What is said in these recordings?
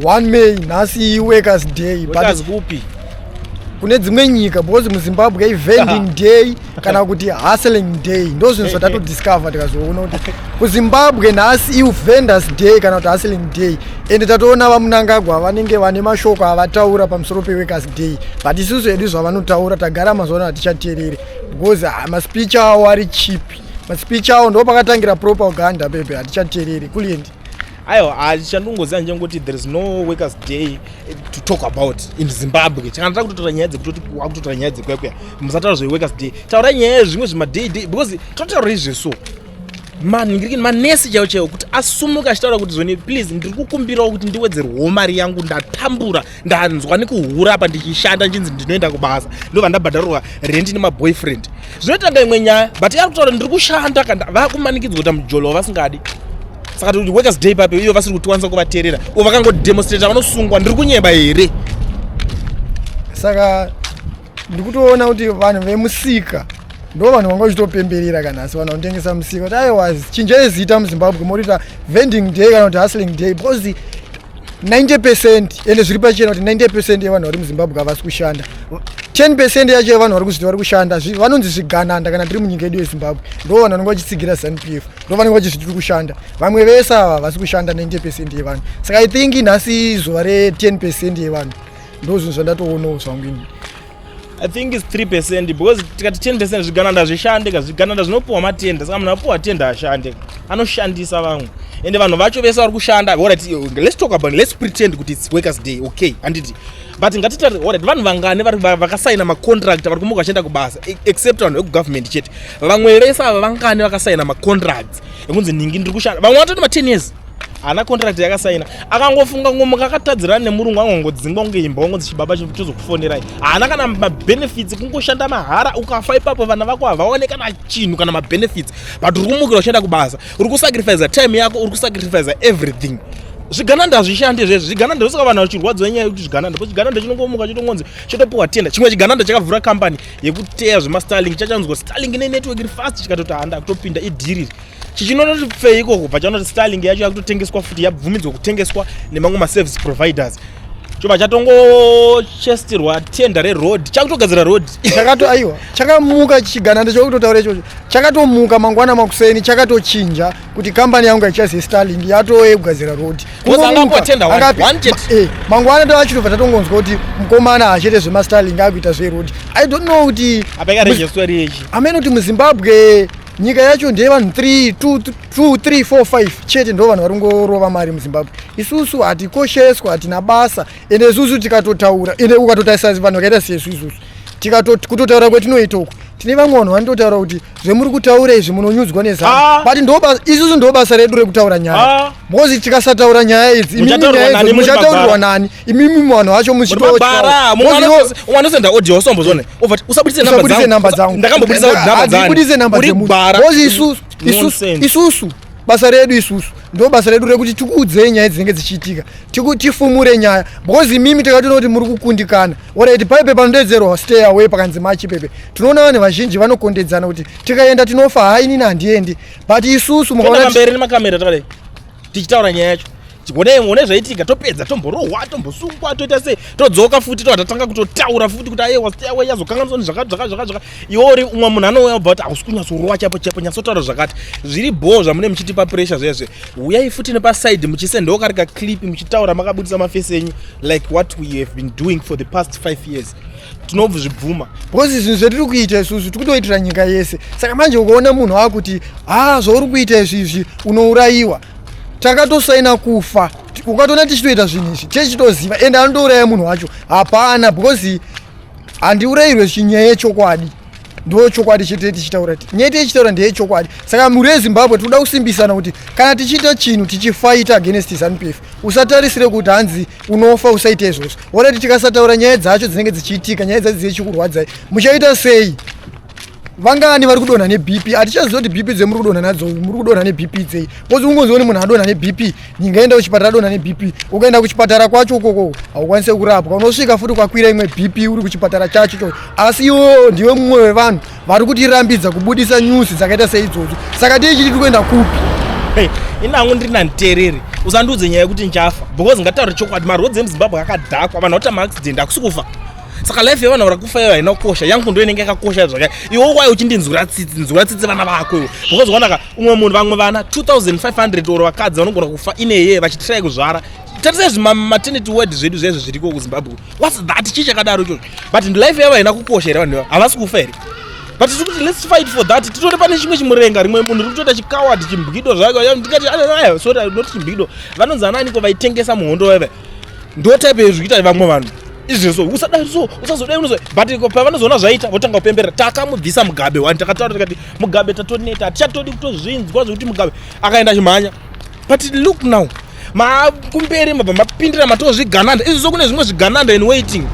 one may nhasi workers day workers kupi kune dzimwe nyika because muzimbabwe ivending day kana kuti hustling day ndo zvinhu zvatatodiscover tikazoona kuti kuzimbabwe nhasi ivenders day kana kuti hustling day ende tatoona vamunangagwa vanenge vane mashoko avataura pamusoro peworkers day but isusu hedu zvavanotaura tagara mazuva ano hatichateereri because ah, maspeech awo ari chip maspeech awo ndo pakatangira proper uganda pepe hatichateereri kuliendi aiwa chandongoziva ndichangokuti there is no workers day to talk about in zimbabwe kana tava kutotora nyaya dzekutoti wakutotora nyaya dzekuya kuya musataura zveworkers day taurai nyaya yezvimwe zvemaday day because totaura izve so manhingirikini manesi chaiwo chaiwo kuti asumuka achitaura kuti zvone please ndiri kukumbirawo kuti ndiwedzerwewo mari yangu ndatambura ndanzwa nekuhura apa ndichishanda ndichinzi ndinoenda kubasa ndobva ndabhadharwa rendi nemaboyfriend zvinotanga imwe nyaya but ari kutaura ndiri kushanda ka vakumanikidzwa kuita mujolo wavasingadi saka tikuti workers day papi iyo vasiri kutikwanisa kuvateerera o vakangodemonstrata vanosungwa ndiri kunyeba here saka ndiri kutoona kuti vanhu vemusika ndo vanhu vanga vachitopemberera kana asi vanhu vanotengesa musika kuti aiwa chinjai zita muzimbabwe morita vending day kana kuti hustling day because 90 percent ende zviri pachena kuti 90 percent yevanhu vari muzimbabwe havasi kushanda 10 percent yacho yevanhu vari kuzviti vari kushanda vanonzi zvigananda kana tiri munyika yedu yezimbabwe ndo vanhu vanenge vachitsigira zanp f ndo vanenge vachizviti tiri kushanda vamwe vese ava havasi kushanda 90 percent yevanhu saka i think nhasi zuva re 10 percent yevanhu ndozvinhu zvandatoonawo zvangu ini i think is 3 percent because tikati 10 percent zvigananda hazvishande ka zvigananda zvinopiwa matenda saka munhu apiwa tenda ashande anoshandisa vamwe ende vanhu vacho vese vari kushanda orit let's talk about let's pretend kuti its workers day okay handiti but ngatitari orit vanhu vangani vakasaina macontract vari kumuka vachienda kubasa e-, except vanhu vekugovernment chete vamwe vese ava vangani vakasaina macontracts ekunzi nhingi ndiri kushanda vamwe vatoti ma 10 years haana contract yakasaina akangofunga ngo mukakatadzirana nemurungu angongodzingwa kunge imba wango dzichibaba chozokufonerai haana kana mabenefits kungoshanda mahara ukafa ipapo vana vako havaone kana chinhu kana mabenefits but uri kumukira uchienda kubasa uri kusacrifice time yako uri kusacrifice everything zvigananda hazvishandi izvezvi zvigananda ndosaka vanhu vachirwadziwa nyaya yekuti zvigananda bcause chigananda chinongomuka chotongonzi chotopiwa tenda chimwe chigananda chakavhura kambani yekuteya zvemastarling chachanzwa starling nenetwork iri fast chikatoti handa kutopinda idhiriri chichinonoti pfei ikoko pachanoti starling yacho yakutotengeswa futi yabvumidzwa kutengeswa nemamwe maservice providers chobva chatongochestirwa tenda reroad chakutogadzira road chakato aiwa chakamuka chichigana ndechokutotaura ichocho chakatomuka mangwana makuseni chakatochinja kuti kambani yangu haichazi starling yatoegwazira road eh, mangwana tavachitobva tatongonzwa kuti mukomana haachete zvemastarling akuita zveroad i don't know kuti amene kuti muzimbabwe nyika yacho ndeye vanhu 3 2 3 4 5 chete ndo vanhu vari kungorova mari muzimbabwe isusu hatikosheswa hatina basa ende isusu tikatotaura ende ukatotarisa vanhu vakaita sesu isusu tikatotaura kwetinoita uku tine vamwe vanhu vanototaura kuti zvemuri kutaura izvi munonyudzwa nezaa ah. but isusu ndo basa redu rekutaura nyaya ah. Mozi tikasataura nyaya idzi, imimi Muchataurwa nyaya nani idzi, muri muchataurirwa mabhara? nani? Imimi vanhu vacho Muri muchitoo mabhara mwana wese- mwana usenda audio usombo zvone ovati usabudise namba usabudise dzangu namba dzangu. ndakambobudisa namba dzangu Hadzibudise namba Uri dzemunhu. gwara. Mozi isusu, isusu, Nonsense. isusu. Basa redu isusu. Ndo basa redu rekuti tikuudzei nyaya dzinenge dzichiitika. Tiku tifumure nyaya. Because imimi takatoona kuti muri kukundikana. Alright, paipe panodedzerwa stay away pakanzi machi pepe. Tinoona vanhu vazhinji vanokondedzana kuti tikaenda tinofa hayi nini handiendi. but isusu mukaonamberi nemakamera takadai tichitaura nyaya yacho tigoneione zvaitika topedza tomborohwa tombosungwa toita sei todzoka futi toa tatanga kutotaura futi kuti ayewa ayewa yazokanganiswa nezvakati zvakati zvakati zvakati iwe uri umwe munhu anouya ubva kuti hausi kunyatsorowa chapo chapo nyatsotaura zvakati zviri bhoo zvamune muchitipa pressure zviyazve uyai futi nepasaidi muchisendawo kari kaclip muchitaura makabudisa mafesi enyu like what we have been doing for the past five years tinobvibvuma because zvinhu zvetiri kuita isusu tikutoitira nyika yese saka manje ukaona munhu akuti haa ah, zvauri kuita izvi izvi unourayiwa takatosaina kufa ukatoona tichitoita zvinhu izvi tichitoziva ende anotouraya munhu wacho hapana because handiurayirwe chinyaya yechokwadi ndo chokwadi chete tichitaura ti nyaya tichitaura ndeye chokwadi saka mhuri yezimbabwe tinoda kusimbisana kuti kana tichiita chinhu tichifaita against zanupf usatarisire kuti hanzi unofa usaite izvozvo orati tikasataura nyaya dzacho dzinenge dzichiitika nyaya dzacho dzichikurwadzai muchaita sei vangani vari kudonha nebp hatichaziva kuti bp dzemuri kudonha nadzo muri kudonha nebp dzei kozi ungonzioni munhu adonha nebp ndingaenda kuchipatara adonha nebp ukaenda kuchipatara kwacho ukoko haukwanise kurapwa unosvika futi kwakwira imwe bp uri kuchipatara chacho cho asi iwo ndiwe mumwe wevanhu vari kutirambidza kubudisa nyusi dzakaita seidzodzo saka tei chiti tiri kuenda kupi hey, ini hangu ndiri nanditereri usandiudze nyaya yekuti nchafa because ngataure chokwadi marwodzi emuzimbabwe akadhakwa vanhu vakuta maaccident hakusi kufa saka life yevanhu vari kufa iyo haina kukosha yangu ndo inenge yakakosha zvaka iwo waye uchindinzwira tsitsi nzwira tsitsi vana vako iwo because wanaka umwe munhu vamwe vana 2500 or vakadzi vanogona kufa ineye vachitraya kuzvara tarisai zvimamaternity word zvedu zvezvo zviriko kuzimbabwe whats that chii chakadaro ichocho but life yavo haina kukosha here vanhu havasi kufa here but tiri kuti let's fight for that titore pane chimwe chimurenga rimwe munhu ri kutoita chikawadi chimbwido zvako ndikati aya sorry not chimbwido vanonzi anaaniko vaitengesa muhondo veve ndo type yezvikuita vamwe vanhu izvezvo usadai so usazodai unozo but pavanozoona zvaita votanga kupembera takamubvisa mugabe wani takataura tikati mugabe tatoneta hatichatodi kutozvinzwa zvekuti mugabe akaenda chimhanya but look now makumberi mabva mapindira matoo zvigananda izvi so kune zvimwe zvigananda in waiting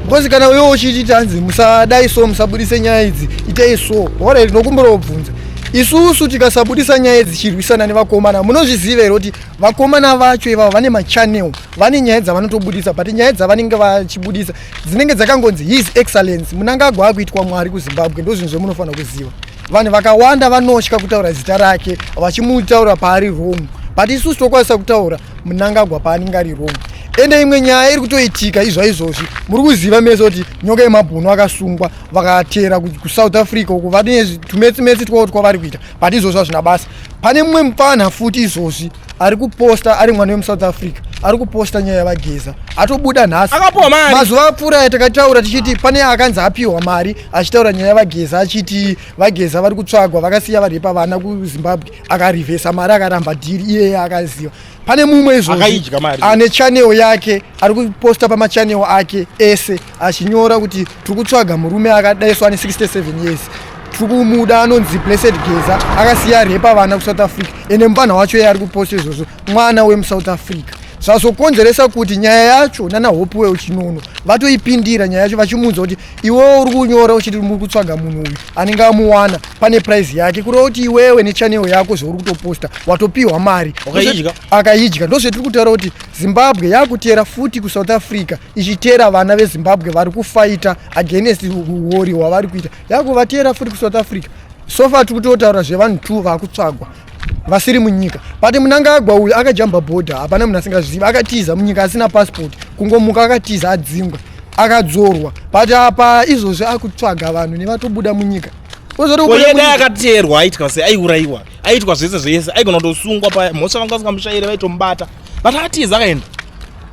bcause kana uyo uchiti tanzi musadai so musabudise nyaya idzi itei so ora tinokumbirawo bvunza isusu tikasabudisa nyaya idzi chirwisana nevakomana munozviziva here kuti vakomana vacho ivavo vane machanel vane nyaya dzavanotobudisa but nyaya dzavanenge vachibudisa dzinenge dzakangonzi his excellence munangagwa akuitwa mwari kuzimbabwe ndozvinhu zvemunofanira kuziva vanhu vakawanda vanotya kutaura zita rake vachimutaura paari wrong but isusu tokwanisa kutaura munangagwa paanenge ari wrong ende imwe nyaya iri kutoitika izvaizvozvi muri kuziva mese kuti nyoka yemabhunu akasungwa vakatera kusouth africa uku vane tumetsi metsi twavo twavari kuita but izvozvi hazvina basa pane mumwe mupfanha futi izvozvi ari kuposta ari mwana wemusouth africa ari kuposta nyaya yavageza atobuda nhasi akapiwa mari mazuva apfuura aya takataura tichiti pane yaakanzi apiwa mari achitaura nyaya yavageza achiti vageza vari kutsvagwa vakasiya vari pavana kuzimbabwe akarivhesa mari akaramba dhiri iyeye akaziva pane mumwe izvozvi ane chanel yake ari kuposta pamachanel ake ese achinyora kuti tiri kutsvaga murume akadai so ane 67 years tiri kumuda anonzi blessed geza akasiya repa vana kusouth africa ende mupfanha wacho iye ari kuposta izvozvo mwana wemusouth africa zvazokonzeresa kuti nyaya yacho nana hopuwe uchinono vatoipindira nyaya yacho vachimuudza kuti iwewo uri kunyora uchiti muri kutsvaga munhu uyu anenge amuwana pane prize yake kureva kuti iwewe nechanel yako zvauri kutoposta watopiwa mari akaidya ndozvetiri kutaura kuti Zimbabwe yakuteera futi kuSouth Africa ichiteera vana veZimbabwe vari kufaita against huori hwavari kuita yakuvateera futi kuSouth Africa so far tiri kutotaura zvevanhu two vakutsvagwa vasiri munyika but munangagwa uyu akajamba border hapana munhu asingazvizivi akatiza munyika asina passport kungomuka akatiza adzingwa akadzorwa but apa izvozvi akutsvaga vanhu nevatobuda munyika ozotoyedai akateerwa aitwa se aiurayiwa aitwa zvese zvese aigona kutosungwa paya mhosva vanga vasingamushaire vaitomubata but akatiza akaenda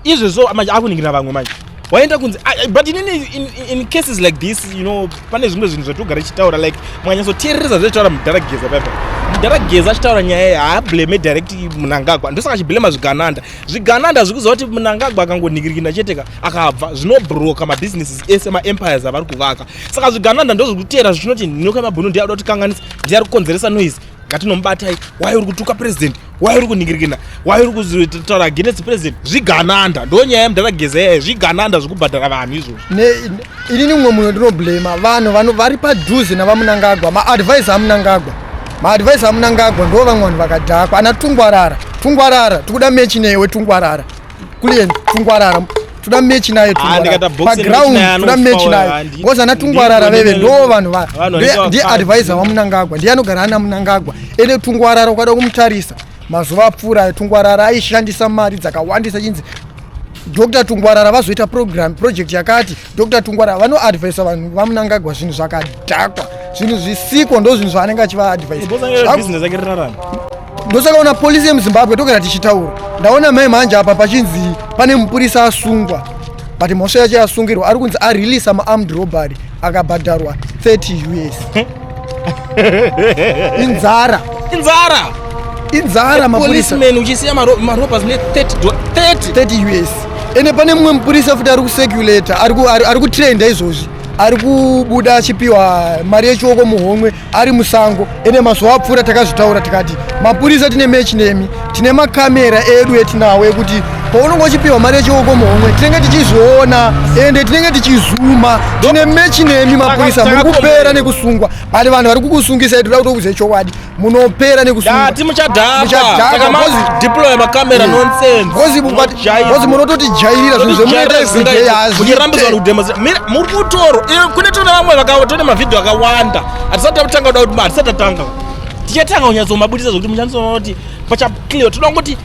izvezvo manje akuningira vamwe manje waenda kunzi ah, eh, but inini in, in cases like this you know pane zvimwe zvinhu zvatogara ichitaura like mukanyatsoteereresa zvetaura mudhara geza paipa mudhara geza achitaura nyaya iyi haablame direct munangagwa ndosaka achiblema zvigananda zvigananda zviri kuziva kuti munangagwa akangonhikirikina cheteka akabva zvinobroka mabusinesses ese maempires avari kuvaka saka zvigananda ndozviri kuteera zvichinoti nhinoka mabhunu ndiye aoda kuti kanganisa ndiye ari kukonzeresa noise ngatinomubatai why uri kutuka president why uri kuningirikina why uri kutaura against president zvigananda ndo nyaya yemudhara geza yaye zvigananda zvekubhadhara vanhu izvozvo inini mumwe munhu ndinoblema vanhu vanhu vari padhuze navamunangagwa maadvise amunangagwa maadvise amunangagwa ndo vamwe vanhu vakadhakwa ana tungwarara tungwarara tikuda mechi newe tungwarara kule tungwarara toda match naye paground toda match naye because ana tungwarara veve ndo vanhu vaya ndiye advisor wamunangagwa ndiye anogara ana munangagwa ende tungwarara ukada kumutarisa mazuva apfuura ayo tungwarara aishandisa mari dzakawandisa chinzi dr tungwarara vazoita program project yakati dr tungwara vanoadvisa vanhu vamunangagwa zvinhu zvakadhakwa zvinhu zvisikwa ndo zvinhu zvaanenge achivaadvisandosange ndosakaona polisi yemuzimbabwe tokera tichitaura ndaona mai manje apa pachinzi pane mupurisa asungwa but mhosva yacho yasungirwa ari kunzi areleasa maarmed robbery akabhadharwa 30 us inzara inzara inzara mapurisa uchisiya maropa zine 30 us ende pane mumwe mupurisa futi ari kuseculata ari kutrenda izvozvi ari kubuda achipiwa mari yechioko muhomwe ari musango ende mazuva apfuura takazvitaura tikati mapurisa tine mechi nemi tine makamera edu etinawo ekuti paunenge uchipiwa mari yechioko muhomwe tinenge tichizviona ende tinenge tichizuma tine mechi nemi mapurisa muri kupera nekusungwa but vanhu vari kukusungisa itoda kuti ukuze chokwadi munopera nekusungwaozi munototijairira zvinhu zvemunoitaizimuri kutoro kune tona vamwe vakatone mavhidhio akawanda hatisati tatanga kuda kuti hatisati tatanga tichatanga kunyatsomabudisa zvekuti muchandisoona kuti pachaclear tinoda kuti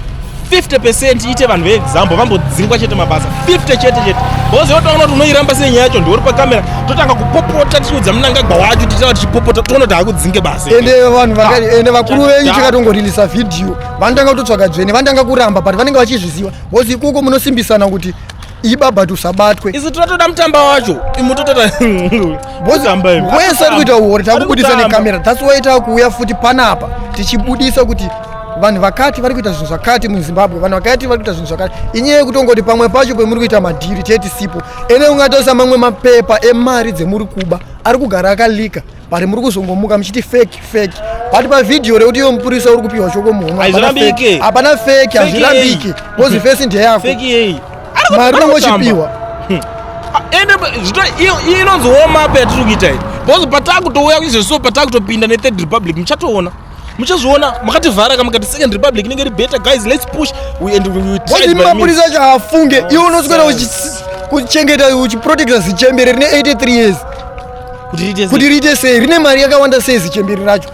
50 percent iite vanhu veexample vambodzingwa chete mabasa 50 chete chete bhozi yotoona kuti unoiramba sei nyaya yacho ndiuri pakamera totanga kupopota tichiudza munangagwa wacho tichitanga tichipopota toona kuti hakudzinge basa ende vanhu vakati ende vakuru venyu chikatongorilisa vhidhiyo vanotanga kutotsvaga dzvene vanotanga kuramba but vanenge vachizviziva bhozi ikoko munosimbisana kuti ibaba tusabatwe isu tinotoda mutamba wacho imutotawese ari kuita uori takubudisa nekamera thats why takuuya futi panapa tichibudisa kuti vanhu vakati vari kuita zvinhu zvakati muzimbabwe vanhu vakati vari kuita zvinhu zvakati inyaya yekutongoti pamwe pacho pemuri kuita madhiri teti sipo ene ungatisa mamwe mapepa emari dzemuri kuba ari kugara akalika but muri kuzongomuka muchiti fake fake but pavhidhiyo rekuti iyo mupurisa uri kupiwa choko muhomwe hapana fake hazvirambike bcause fesi ndeyako mari unenge uchipiwa hmm. ende inonzi warm up yatiri kuita iyi bcause patakutouya kuizvezvi so patakutopinda nethird republic muchatoona muchazviona makativhara ka mukati second republic inenge iri better guys let's push we, and we, we try mapurisa acho haafunge iwe unoswera kuchengeta uchiprotecta zichembere rine 83 years kuti riite sei rine mari yakawanda sei zichemberi racho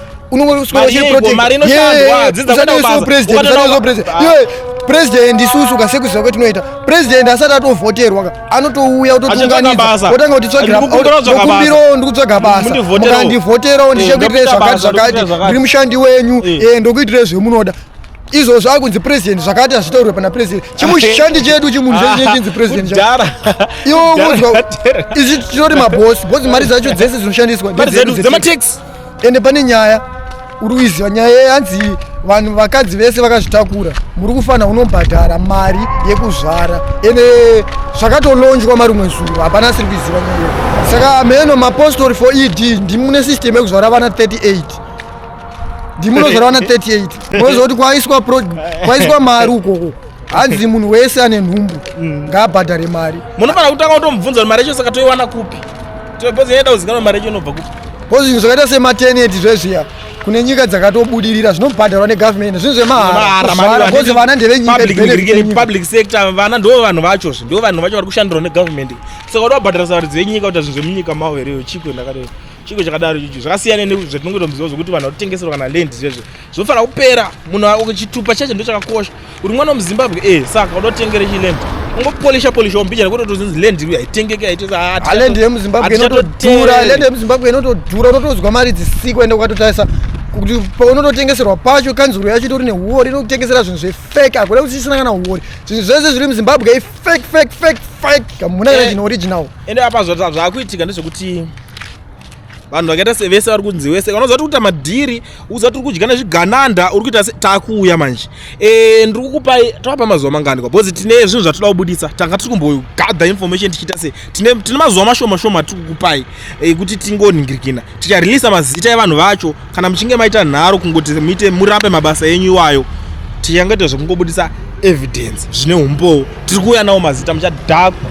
president isusu ka sekuziva kwetinoita president asati atovhoterwa ka anotouya ototunganidza otanga kuti tsvagirakumbirawo ndikutsvaga basa mukandivhoterawo ndichekuitire zvakati zvakati ndiri mushandi wenyu ndokuitire zvemunoda izvo zvakunzi president zvakati hazvitaurwe pana president chimushandi chedu chimunhu chechinzi president iwo unzwa izvi tinoti mabosi bosi mari dzacho dzese dzinoshandiswa ende pane nyaya uri kuiziva nyaya yeyanzi vanhu vakadzi vese vakazvitakura muri kufanira unobhadhara mari yekuzvara ende zvakatolonjwa marumwe zuro hapana asiri kuiziva nyaya saka meno mapostori for ed ndimune system yekuzvara vana 38 ndimi unozvara vana 38 oziva kuti kwaiswa kwaiswa mari ukoko hanzi munhu wese ane nhumbu mm. ngaabhadhare mari munofanira kutanga kutomubvunza kuti mari yacho saka toiwana kupi bcoz yaida kuzikanwa mari yacho inobva kupi bcoz zvinhu zvakaita semateneti zvezviya kune nyika dzakatobudirira zvinobhadharwa negovernment zvinhu zvemaharabcoz vana ndevenyikapublic sector vana ndo vanhu vacho zvi ndo vanhu vacho vari kushandirwa negovernment saka kuti vabhadharisa varidzi venyika kuti zvinhu zvemunyika mavo here chiko ndakadei chiko chakadaro ichocho zvakasiyana nezvatinongoita muziva zvokuti vanhu vatotengeserwa kana land zvezvo zvinofanira kupera munhu chitupa chacho ndo chakakosha uri mwana wemuzimbabwe e saka uda kutengera chiland ungopolisha polisha umbijana kuti utozinzi land iri haitengeke haitoland ah, yemuzimbabwe inotodhura land yemuzimbabwe inotodhura unotozwa mari dzisiko ende ukatotarisa kuti paunototengeserwa pacho kanzuro yacho itori nehuori inokutengesera zvinhu zvefake akuda kuti chisina kana huori zvinhu zvese zviri muzimbabwe ifake fake fake fake kamunhu akana eh, chino original ende apa zvakuitika ndezvekuti vanhu vakaita sevese vari kunzi wese kana uzati kuita madhiri uza tiri kudya nezvigananda uri kuita takuuya manje e, ndiri kukupai tavapa mazuva mangani kwa bcause tine zvinhu zvatoda kubudisa tanga tiri kumbogather information tichiita se tine, tine mazuva mashoma shoma tiri kukupai e, kuti tingoningirikina tichareleasa mazita evanhu vacho kana muchinge maita nharo kungoti muite murape mabasa enyu iwayo tichangaita zvekungobudisa evidence zvine umbowo tiri kuuya nawo mazita muchadhakwa